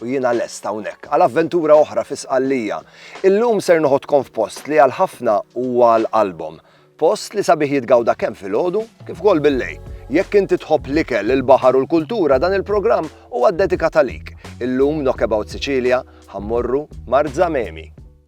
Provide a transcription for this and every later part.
U jiena lest hawnhekk għal avventura oħra fi Sqallija. Illum ser noħodkom f'post li għal ħafna huwa għal qalbhom. Post li sabiħ jitgawda kemm filgħodu kif ukoll billejl. Jekk inti tħobb l-ikel, il-baħar u l-kultura dan il-programm huwa ddedikat għalik. Illum Knockabout Sicilia ħa mmorru Marzamemi.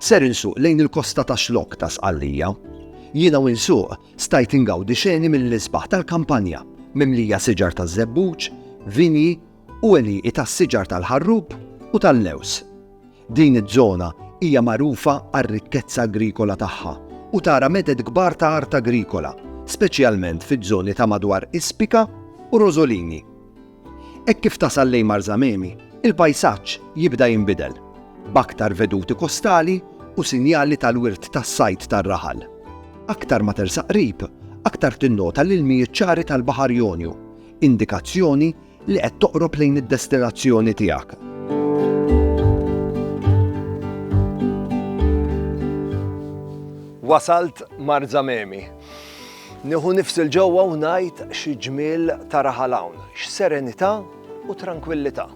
Ser insuq lejn il-kosta ta' Xlokk ta' Sqallija. Jiena u nsuq stajt ingawdi xeni mill-isbaħ tal-kampanja mimlija siġar taż-żebbuġ, vinji u għelieqi tas-siġar tal-ħarrub u tal-lewż. Din iż-żona hija magħrufa għar-rikkezza agrikola tagħha u tara meded kbar ta' art agrikola, speċjalment fiż-żoni ta' madwar Ispika u Rosolini. Hekk kif tasal lejn Marzamemi, il-pajsaġġ jibda jinbidel, b'aktar veduti kostali u sinjali tal-wirt tas-sajd tar-raħal. Aktar ma tersaq qrib, aktar tinnota l-ilmijiet ċari tal-Baħar Jonju, indikazzjoni li qed toqrob lejn id-destinazzjoni tiegħek. Wasalt Marzamemi. Nieħu nifs 'il ġewwa u ngħid xi ġmiel ta' raħal hawn, x'serenità u trankwillità.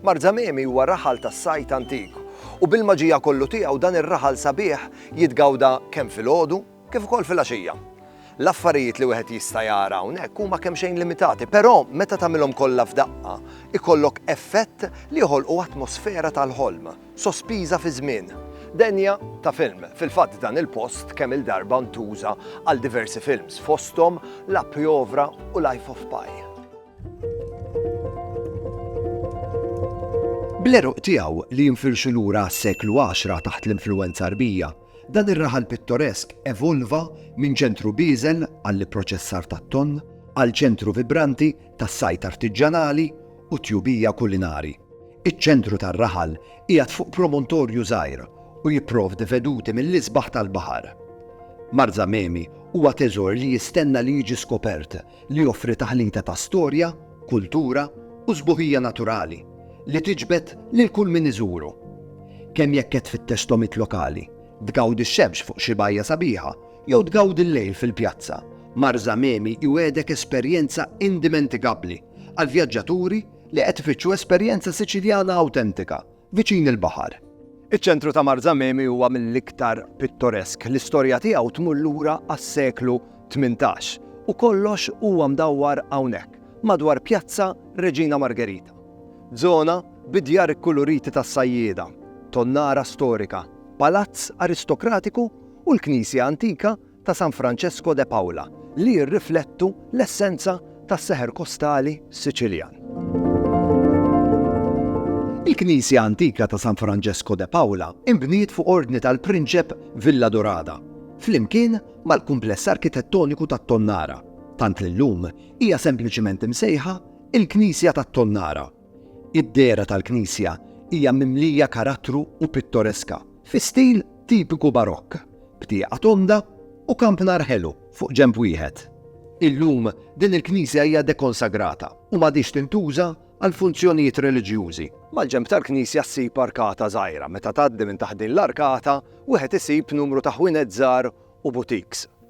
Marzamemi huwa raħal tas-sajd antik u bil-maġija kollu tiegħu dan ir-raħal sabiħ jitgawda kemm filgħodu kif ukoll filgħaxija. L-affarijiet li wieħed jista' jara hawnhekk huma kemxejn limitati, però meta tagħmilhom kollha f'daqqa, ikollok effett li joħolqu atmosfera tal-ħolm. sospiża fiż-żmien. Denja ta' film. Fil-fatt dan il-post kemm-il darba ntuża għal diversi films, fosthom La Piovra u Life of Pi. Bl-għeruq tiegħu li jinfirxu lura għas-seklu għaxra taħt l-influwenza Għrbija, dan ir-raħal pittoresk evolva minn ċentru bieżel għall-ipproċessar tat-tonn għal ċentru vibranti tas-sajd artiġġanali u tjubija kulinari. Iċ-ċentru tar-raħal qiegħed fuq promontorju żgħir u jipprovdi veduti mill-isbaħ tal-baħar. Marsa Memi huwa teżor li jistenna li jiġi skopert li joffri taħlita ta' storja, kultura u sbuħija naturali li tiġbed lil kull min iżuru. Kemm jekk qed tfittex togħmiet lokali, tgawdi x-xemx fuq xi bajja sabiħa jew tgawdi l-lejl fil-pjazza, Marsa Memi jwiegħdek esperjenza indimentikabbli għall-vjaġġaturi li qed ifittxu esperjenza Siċiljana awtentika, viċin il-baħar. Iċ-ċentru ta' Marzamemi huwa mill-iktar pittoresk, l-istorja tiegħu tmur lura għas-seklu tmintax, u kollox huwa mdawwar hawnhekk, madwar Pjazza Reġina Margherita. Żona bi djar ikkuluriti tas-sajjieda, tonnara storika, palazz aristokratiku u l-knisja antika ta' San Francesco de Paula li jirriflettu l-essenza tas-seħer kostali Siċiljan. Il-knisja antika ta' San Francesco de Paula inbniet fuq ordni tal-Prinċep Villadurada, flimkien mal-kumpless arkitettoniku tat-Tonnara, tant li llum hija sempliċement imsejħa il-Knisja tat-Tonnara. Id-dehra tal-knisja hija mimlija karattru u pittoreska, fi stil tipiku Barokk, b'tieqa tonda u kampnar ħelu fuq ġenb wieħed. Illum din il-knisja hija dekonsagrata u m'għadhiex tintuża għal funzjonijiet reliġjużi. Mal-ġenb tal-knisja ssib arkata żgħira, meta tgħaddi minn taħt din l-arkata wieħed isib numru ta' ħwienet żgħar u butiks.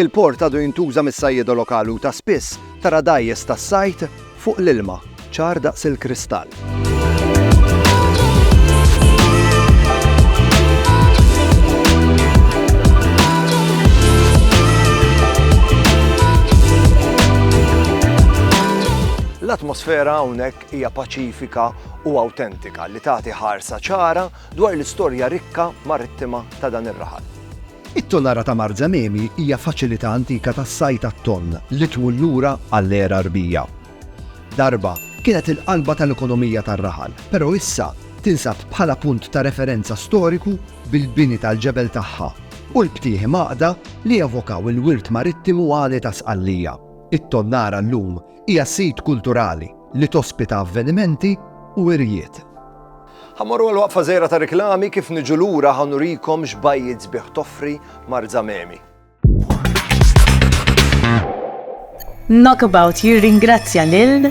Il-port għadu jintuża mis-sajjieda lokali u ta' spiss tara dgħajjes tas-sajd fuq l-ilma, ċar daqs il-kristall. L-atmosfera hawnhekk hija paċifika u awtentika li tagħti ħarsa ċara dwar l-istorja rikka marittima ta' dan ir-raħal. It-Tonara ta' Marzememi hija faċilità antika tas-sajd għat-tonn li tmur lura għall-era Rbija. Darba, kienet il-qalba tal-ekonomija tar-raħal, però issa tinsab bħala punt ta' referenza storiku bil-bini tal-ġebel tagħha u l-btieħi mgħaqqda li jevokaw il-wirt marittimu għali ta' Sqallija. It-Tonara llum hija sit kulturali li tospita avvenimenti u wirjiet. Ħa mmorru għal waqfa żgħira ta' riklami kif niġu lura ħa nurikom x'bajjiet sbieħ toffri Marzamemi. Knockabout jirringrazzja lil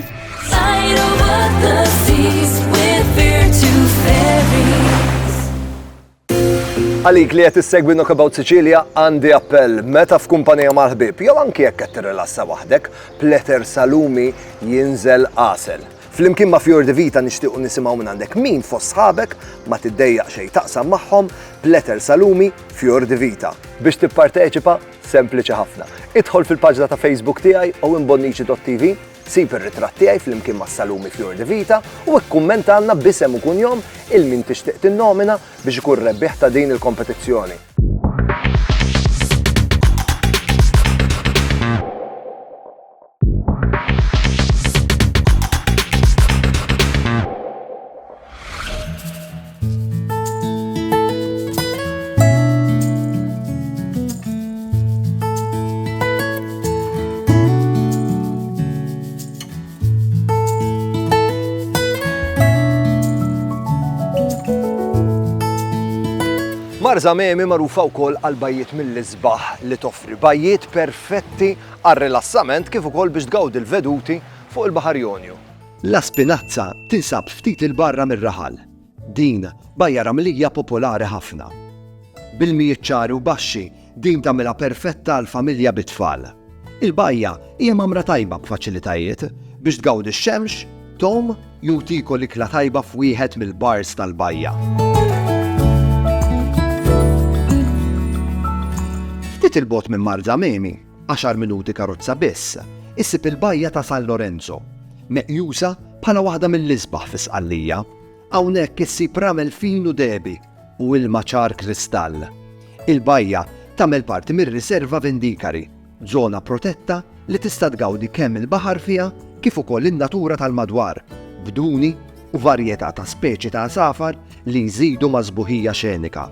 Għalik li qed issegwi Knockabout Sicilia għandi appell meta f'kumpanija mal-ħbieb jew anki jekk qed tirrilassa waħdek, pleter salumi jinżel għasel. Flimkien ma' Fjord Vita nixtiequ nisimgħu minn għandek min fost sħabek ma tiddejjaq xejn taqsam magħhom pleter salumi Fjord Vita. Biex tipparteċipa sempliċi ħafna. Idħol fil-paġna ta' Facebook tiegħi u imbonniċi.tv Sib ir-ritratt tiegħi flimkien ma' Salumi Fior di Vita u ikkummentalna b'isem u kunjom il min tixtieq tinnomina biex ikun rebbieħ ta' din il-kompetizzjoni. Marza Memi magħrufa wkoll għal bajjiet mill-isbaħ li toffri, bajjiet perfetti għal rilassament kif ukoll biex tgawdi l-veduti fuq il-Baħar Jonju. La Spinazza tinsab ftit 'il barra mir-raħal. Din bajja ramlija popolari ħafna. B'ilmijiet ċari u baxxi, din tagħmilha perfetta għal familja bi tfal. Il-bajja hija mgħammra tajba b'faċilitajiet biex tgawdi x-xemx, Tom jugħtiku l-ikla tajba f'wieħed mill-bars tal-bajja. Ftit 'il bogħod minn Marzamemi, Għaxar minuti karozza biss issib il-bajja ta' San Lorenzo, meqjusa bħala waħda mill-isbaħ fi Sqallija. Hawnhekk issib ramel fin u dehbi u ilma ċar kristall. Il-bajja tagħmel parti mir-Riserva Vindikari, żona protetta li tista' tgawdi kemm il-baħar fiha kif ukoll in-natura tal-madwar, b'duni u varjetà ta' speċi ta' għasafar li jżidu mas-sbuħija xenika.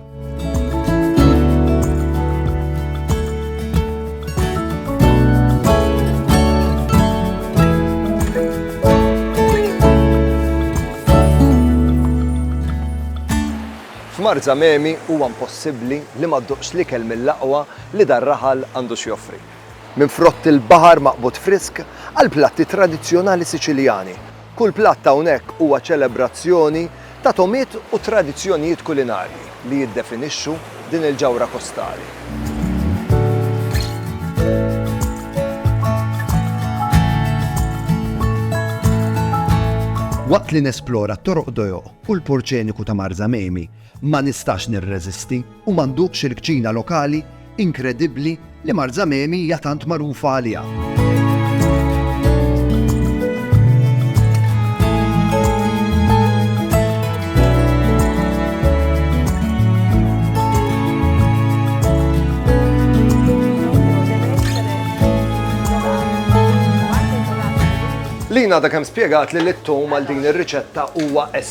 F'Mar Zamemi huwa impossibbli li ma ddoqx l-ikel mill-aqwa li dan raħal għandu x'joffri. Minn frott il-baħar maqbud frisk għal platti tradizzjonali Siċiljani. Kull platt hawnhekk huwa ċelebrazzjoni ta' togħmiet u tradizzjonijiet kulinarji li jiddefinixxu din il-ġawhra kostali. Waqt li nesplora t-toroq dojo u l-purċeniku ta' Marsa Mamie, Ma nistax nirreżisti u ma nduqx il-kċina lokali inkredibbli li Marzamemi hija tant magħrufa għaliha. Lina da kemm spjegat li l-ittum għal din ir-riċetta huwa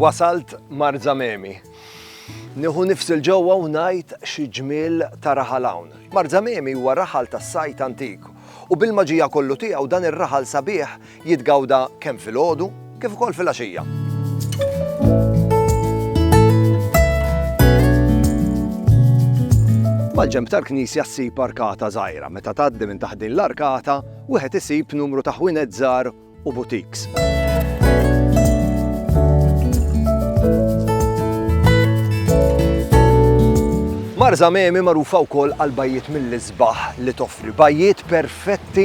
Wasalt Marzamemi. Nieħu nifsil ġewwa u ngħid xi ġmiel ta' raħal hawn. Marzamemi huwa raħal tas-sajt antik u bil-maġija kollu tiegħu dan ir-raħal sabiħ jitgawda kemm filgħodu kif ukoll filgħaxija. Mal-ġemb tal-knisja ssib arkata żgħira. Meta tgħaddi minn taħt din l-arkata, wieħed isib numru ta' ħwienet żgħar u butiks. Marza Memi magħrufa wkoll għal bajjiet mill-isbaħ li toffri bajjiet perfetti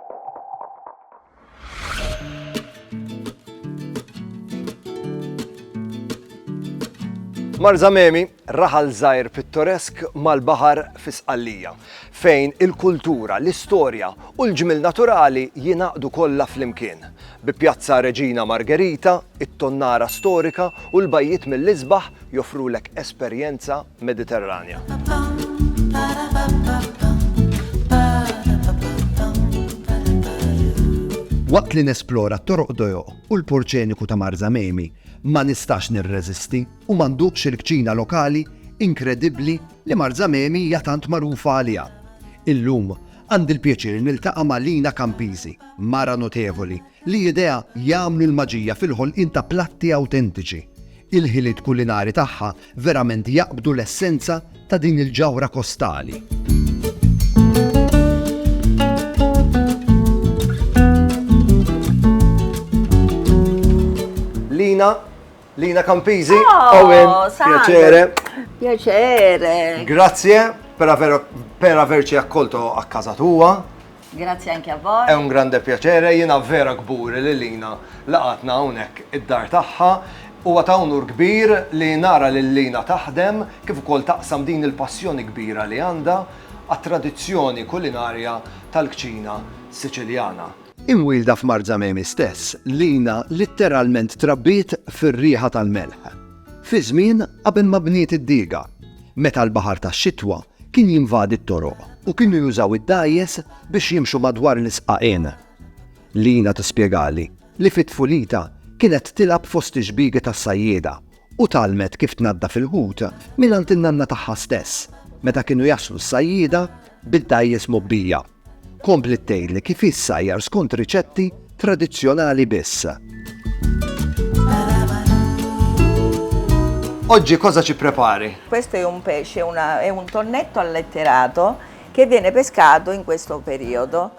Marzamemi, raħal żgħir pittoresk mal-baħar fi Sqallija, fejn il-kultura, l-istorja u l-ġmil naturali jingħaqdu kollha flimkien. Bi Pjazza Reġina Margherita, it-tonnara storika u l-bajjiet mill-isbaħ joffrulek esperjenza Waqt li nesplora t-toroq dojoq u l-porċeniku ta' Marzamemi, ma nistax nirreżisti u ma nduqx il-kċina lokali inkredibbli li Marzamemi hija tant magħrufa għaliha. Illum għandi l-pjaċir niltaqa' ma' Lina Campisi, mara notevoli li jidejha jagħmlu l-maġija fil-ħolqien ta' platti awtentiċi. Il-ħiliet kulinari tagħha verament jaqbdu l-essenza ta' din il-ġawhra kostali. Lina, Lina Campizi, oh, Owen, piacere. Piacere. Grazie per, aver, per averci accolto a casa tua. Grazzi anki a voi. È un grande piacere, jiena vera kburi li Lina laqgħatna hawnhekk id-dar tagħha. Huwa ta' unur kbir li nara lil Lina taħdem kif ukoll taqsam din il-passjoni kbira li għandha għat-tradizzjoni kulinarja tal-kċina Siċiljana. Imwielda f'Marzamemi stess, Lina litteralment trabbiet fir-riħa tal-melħ. Fiż-żmien qabel ma bniet id-diga, meta l-baħar tax-xitwa kien jinvadi t-toroq u kienu jużaw id-dgħajjes biex jimxu madwar l-isqaqien. Lina tispjegali li fi tfulitha kienet tilgħab fost ix-xbiegi tas-sajjieda u tgħallmet kif tnaddaf il-ħut mingħand in-nanna tagħha stess meta kienu jaslu s-sajjieda bid-dgħajjes mgħobbija. Kompliet tgħidli kif hi ssajjar skont riċetti tradizzjonali biss. Oggi cosa ci prepari? Questo è un pesce, una, è un tonnetto alletterato che viene pescato in questo periodo.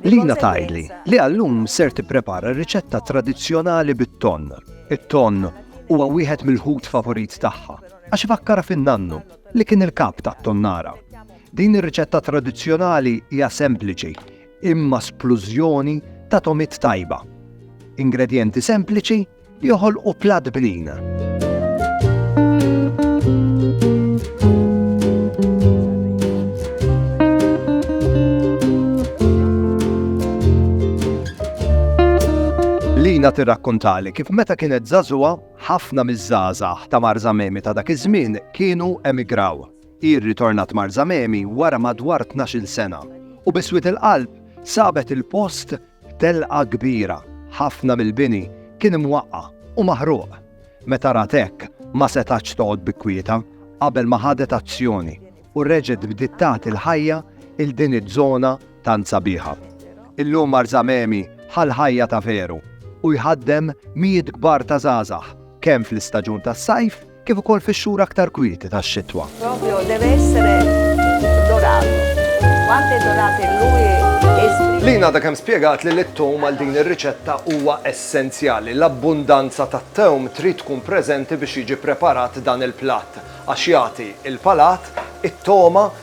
Lina tajli li għallum ser tipprepara riċetta tradizzjonali bit-ton. It-ton huwa wieħed mill-ħut favorit tagħha għax fakkara fin-nannu li kien il-kap tat-tonnara. Din ir-riċetta tradizzjonali hija sempliċi imma splużjoni ta' togħmiet tajba. Ingredjenti sempliċi li joħolqu platt bnin. Lina tirrakkontali kif meta kienet żagħżugħa ħafna miż-żgħażagħ ta' Marzamemi ta' dak iż-żmien kienu emigraw. Hi rritornat Marzamemi wara madwar tnax-il sena u bi swied il-qalb sabet il-post f'telqa kbira. Ħafna mill-bini kien imwaqqa' u maħruq. Meta rat hekk, ma setgħatx toqgħod bi kwieta qabel ma ħadet azzjoni u reġgħet bdiet tagħti l-ħajja 'l din iż-żona tant sabiħa. Illum Marzamemi ħa l-ħajja ta' veru u jħaddem mijiet kbar ta' żgħażagħ kemm fl-istaġun tas-sajf kif ukoll fix-xhur aktar kwieti tax-xitwa. Proprio deve essere dorato. Quanto è dorato e lui Lin għadha kemm spjegat li l-tewm għal din ir-riċetta huwa essenzjali. L-abbundanza tat-tewm trid tkun preżenti biex jiġi preparat dan il-platt għax jagħti il-palat, it-togħma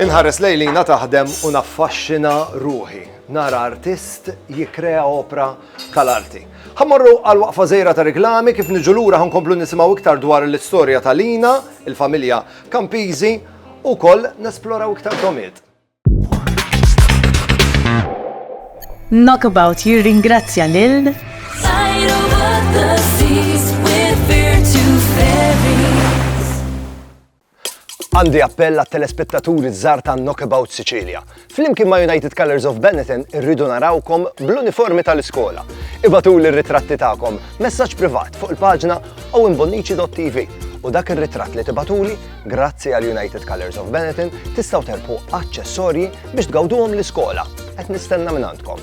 Inħares lejn Lina taħdem u naffaxxina ruħi. Nara artist jikkrea opra tal-arti. Ħa mmorru għal waqfa żgħira ta' reklami, kif niġu lura ħa nkomplu nisimgħu iktar dwar l-istorja ta' Lina, il-familja Campizi, u wkoll nesploraw iktar domiet. Knockabout jirringrazzja lil Għandi appell għat-telespettaturi żgħar ta' Knockabout Sicilia. Flimkien ma' United Colors of Benetton irridu narawkom bl-uniformi tal-iskola. Ibatuli r-ritratti tagħkom, messaġġ privat fuq il-paġna owenbonnici.tv u dak ir-ritratt li tibatuli, grazzi għal United Colors of Benetton, tistgħu terpu aċċessorji biex tgawduhom l-iskola. Qed nistenna minn għandkom.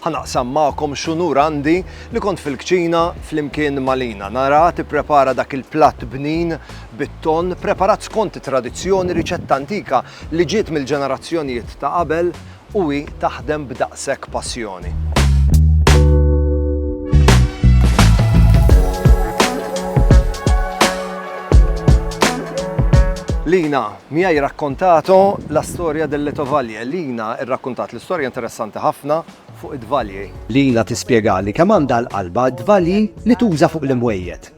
Ħa naqsam magħkom x'unur għandi li kont fil-kċina flimkien ma' Lina naraha tipprepara dak il-platt bnin bit-tonn preparat skont it-tradizzjoni, riċetta antika li ġiet mill-ġenerazzjonijiet ta' qabel u hi taħdem b'daqshekk passjoni. Lina, Mia hi raccontato la storia delle tovaglie Lina rrakkuntat l-istorja interessanti ħafna fuq it-tvalji. Lina tispjegali kemm għandha l-qalba t-tvalji li tuża fuq l-imwejjed.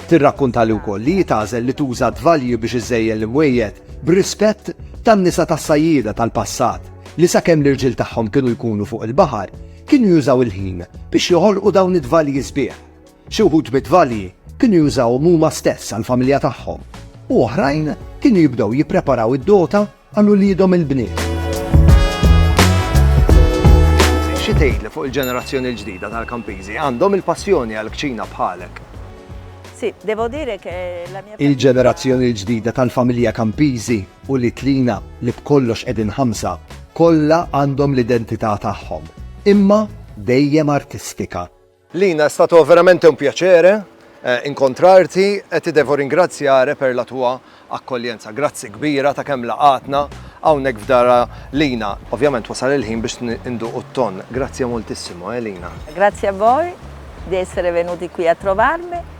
Tirrakkuntali wkoll li hi tagħżel li tuża t-tvalji biex iżżejjen l-imwejjed b'rispett tan-nisa tas-sajjieda tal-passat li sakemm l-irġiel tagħhom kienu jkunu fuq il-baħar kienu jużaw il-ħin biex joħolqu dawn it-tvalji sbieħ. Xi wħud mit-tvalji kienu jużawhom huma stess għall-familja tagħhom u oħrajn kienu jibdew jippreparaw id-dota għal uliedhom il-bniet. Xi tgħidli fuq il-ġenerazzjoni l-ġdida tal-Campisi? Għandhom il-passjoni għall-kċina bħalek? Il-ġenerazzjoni l-ġdida tal-familja Campisi, ulied lina li b'kollox qegħdin ħamsa, kollha għandhom l-identità tagħhom, imma dejjem artistika. Lina è stato veramente un piacere incontrarti e ti devo ringraziare per la tua accoglienza. Grazzi kbira ta' kemm laqgħatna hawnhekk f'dar Lina. Ovvjament wasal il-ħin biex induqu t-tonn. Grazie moltissimo eh Lina. Grazie a voi di essere venuti qui a trovarmi.